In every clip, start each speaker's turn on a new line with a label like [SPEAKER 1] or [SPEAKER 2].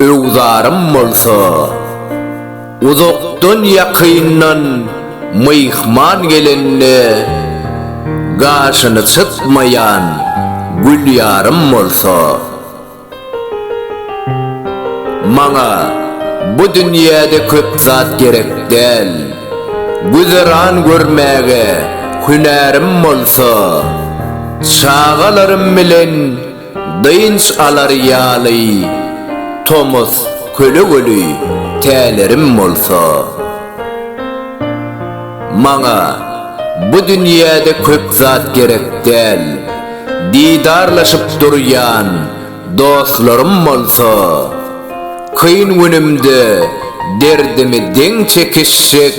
[SPEAKER 1] Öwzarym bolsa, uzakdan-ýakyndan myhman gelende gaşyny çytmaýan Gülýarym bolsa, Maňa bu dünýäde köp zat gerek däl, güzeran görmäge hünärim bolsa, çagalarym bilen Dynç alar ýaly tomus kölegeli tälerim bolsa, Maňa bu dünýäde köp zat gerek däl, didarlaşyp durýan dostlarym bolsa, kyn günümde derdimi deň çekişjek,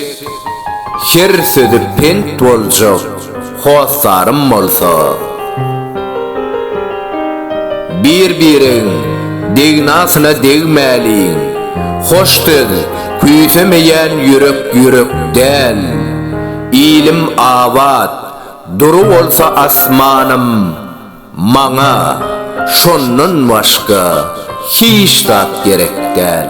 [SPEAKER 1] her sözi pent boljak. Hossarym bolsa, Bir-biregiň degnasyna degmäliň, Hoş söz küýsemeýän ýürek ýürek däl. Ilim abat, dury bolsa asmanym, Maňa şondan başga hiç zat gerek däl.